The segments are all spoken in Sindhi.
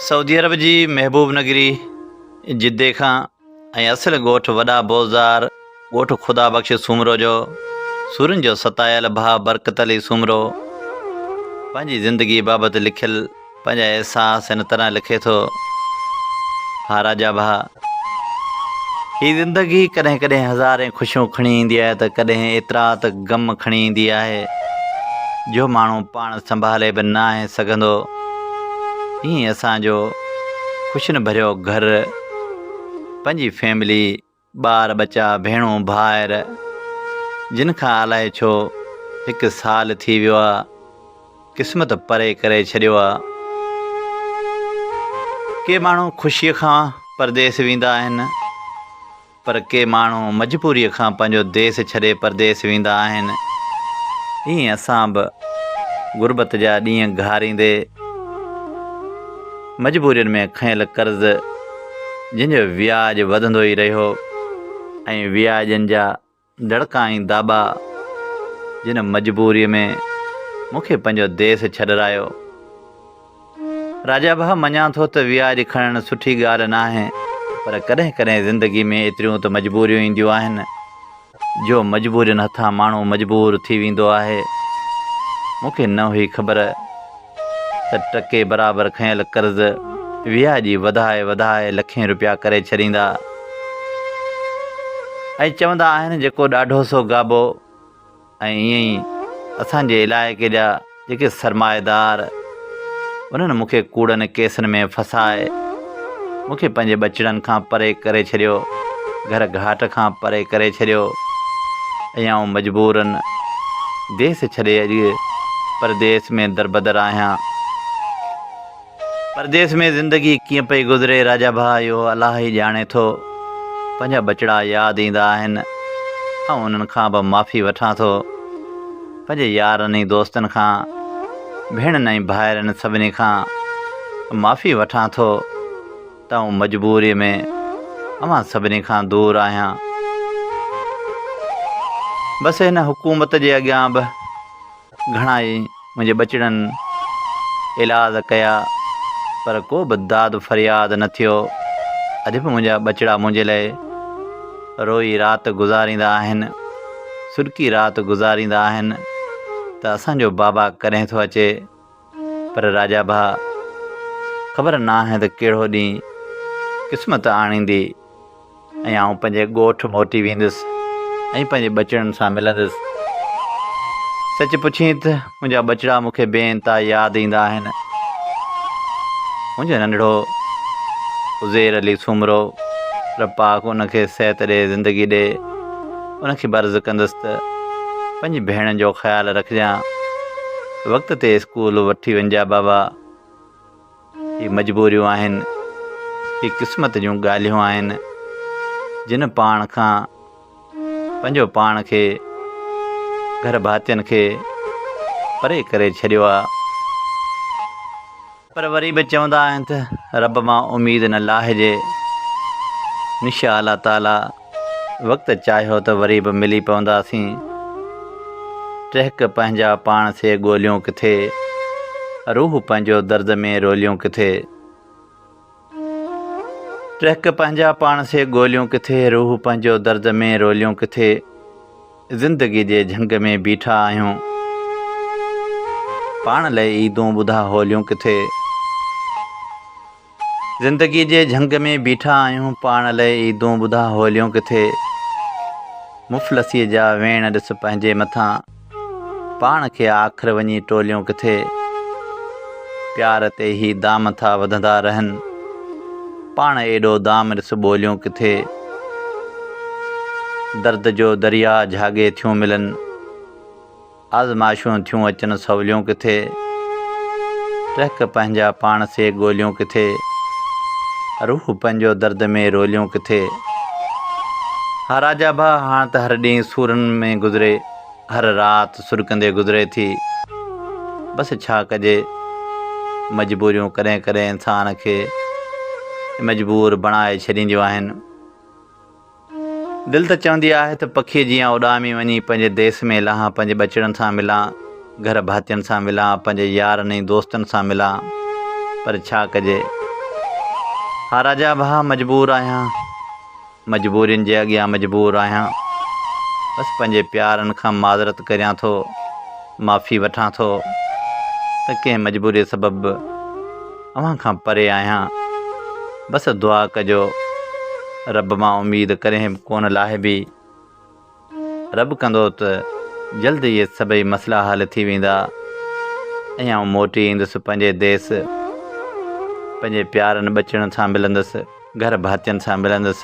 سعودي عرب جي محبوب نگري جدي کان ۽ اصل ڳوٺ وڏا بوزدار ڳوٺ خدا بخش سومرو جو سورن جو ستايل ڀاء برڪت علي سومرو پنهنجي زندگي بابت لکيل پنهنجا احساس هن طرح لکي ٿو، ها راجا ڀاء! هي زندگي ڪڏهن ڪڏهن هزارين خوشيون کڻي ايندي آهي ته ڪڏهن ايترا ته غم کڻي ايندي آهي جو ماڻهو پاڻ سنڀالي به ناهي سگهندو. ائين اسان جو خوشين ڀريو گهر، پنهنجي فيملي، ٻار ٻچا، ڀيڻون ڀائر جن کان الائي ڇو هڪ سال ٿي ويو آ قسمت پري ڪري ڇڏيو آ. ڪي ماڻهو خوشيء کان پرديس ويندا آهن پر ڪي ماڻهو مجبوريء کان پنهنجو ديس ڇڏي پرديس ويندا آهن. ائين اسان به غربت جا ڏينهن گهاريندي. مجبورين ۾ کنيل قرض جنهن جو وياج وڌندو ئي رهيو ۽ وياجن جا دڙڪا ۽ داٻا جن مجبوريء ۾ مون کي پنهنجو ديس ڇڏرايو. راجا ڀاء مڃان ٿو ته وياج کڻڻ سٺي ڳالهه ناهي پر ڪڏهن ڪڏهن زندگي ۾ ايتريون ته مجبوريون اينديون آهن. جو مجبورين هٿان ماڻهو مجبور ٿي ويندو آهي. مون کي نه هئي خبر ته ٽڪي برابر کنيل قرض وياڄي وڌائي وڌائي لکين روپيا ڪري ڇڏيندا. ۽ چوندا آهن جيڪو ڏاڍو سو گابو ۽ ائين ئي اسان جي علائقي جا جيڪي سرمائيدار انهن مون کي ڪوڙن ڪيسن ۾ ڦسائي مون کي پنهنجي ٻچڙن کان پري ڪري ڇڏيو گهر گهاٽ کان پري ڪري ڇڏيو ۽ آئون مجبورن ديس ڇڏي اڄ پرديس ۾ دربدر آهيان پرديس ۾ زندگي ڪيئن پئي گذري راجا ڀاء اهو الله ئي ڄاڻي ٿو. پنهنجا ٻچڙا ياد ايندا آهن. آئون انهن کان به معافي وٺان ٿو. پنهنجي يارن ۽ دوستن کان، ڀيڻن ۽ ڀائرن سڀني کان معافي وٺان ٿو ته آئون مجبوري ۾ اوهان سڀني کان دور آهيان. بس هن حڪومت جي اڳيان به. گهڻا ئي منهنجي ٻچڙن علاج ڪيا پر ڪو به داد فرياد نه ٿيو. اڄ به منهنجا ٻچڙا منهنجي لاء روئي رات گذاريندا آهن، سڏڪي رات گذاريندا آهن ته اسان جو بابا ڪڏهن ٿو اچي. پر راجا ڀاء خبر ناهي ته ڪهڙو ڏينهن قسمت آڻيندي ۽ آئون پنهنجي ڳوٺ موٽي ويندس ۽ پنهنجي ٻچڙن سان ملندس. سچ پڇين ته منهنجا ٻچڙا مون کي بي انتها ياد ايندا آهن. منهنجو ننڍڙو عزير علي سومرو رب پاڪ ان کي صحت ڏي زندگي ڏي ان کي به عرض ڪندس ته پنهنجي ڀيڻن جو خيال رکجان. وقت تي اسڪول وٺي وڃجا بابا. هي مجبوريون آهن. هي قسمت جون ڳالهيون آهن. جن پاڻ کان پنهنجو پاڻ کي گهر ڀاتين کي پري ڪري ڇڏيو آ. پر وري به چوندا آهن ته رب مان اميد نه لاهجي انشاء الله تعالي وقت چاهيو ته وري به ملي پونداسين ٽهڪ پنهنجا پاڻ سي ڳوليون ڪٿي روح پنهنجو درد ۾ روليون ڪٿي. ٽهڪ پنهنجا پاڻ سي ڳوليون ڪٿي، روح پنهنجو درد ۾ روليون ڪٿي، زندگي جي جهنگ ۾ بيٺا آهيون، پاڻ لئه عيدون ٻڌا هوليون ڪٿي، زندگي جي جهنگ ۾ بيٺا آهيون، پاڻ لئه عيدون ٻڌا هوليون ڪٿي، مفلسيء جا ويڻ ڏس پنهنجي مٿان، پاڻ کي آخر وڃي ٽوليون ڪٿي. پيار تي هي دام ٿا وڌندا رهن. پاڻ ايڏو دام ڏس ٻوليون ڪٿي. درد جو درياء جهاڳي ٿيون ملن. آزمائشون ٿيون اچن سوليون ڪٿي. رهڪ پنهنجا پاڻ سي ڳوليون ڪٿي. روح پنهنجو درد ۾ روليون ڪٿي. ها راجا ڀاء هاڻ ته هر ڏينهن سورن ۾ گذري. هر رات سرڪندي گذري ٿي. بس ڇا ڪجي مجبوريون ڪڏهن ڪڏهن انسان کي مجبور بڻائي ڇڏينديون آهن. دل ته چوندي آهي ته پکي جيان اڏامي وڃي پنهنجي ديس ۾ لهان پنهنجي ٻچڙن سان ملان گهر ڀاتين سان ملان پنهنجي يارن ۽ دوستن سان ملان پر ڇا ڪجي ها راجا ڀاء مجبور آهيان. مجبورين جي اڳيان مجبور آهيان بس پنهنجي پيارن کان معذرت ڪريان ٿو معافي وٺان ٿو ته ڪنهن مجبوري سبب به اوهان کان پري آهيان بس دعا ڪجو رب مان اميد ڪڏهن به ڪونه لاهبي رب ڪندو ته جلد اهي سڀئي مسئلا حل ٿي ويندا ۽ آئون موٽي ايندس پنهنجي ديس، پنهنجي پيارن ٻچڙن سان ملندس، گهر ڀاتين سان ملندس،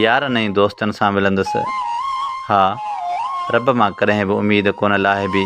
يارن ۽ دوستن سان ملندس. ها، رب مان ڪڏهن به اميد ڪونه لاهبي.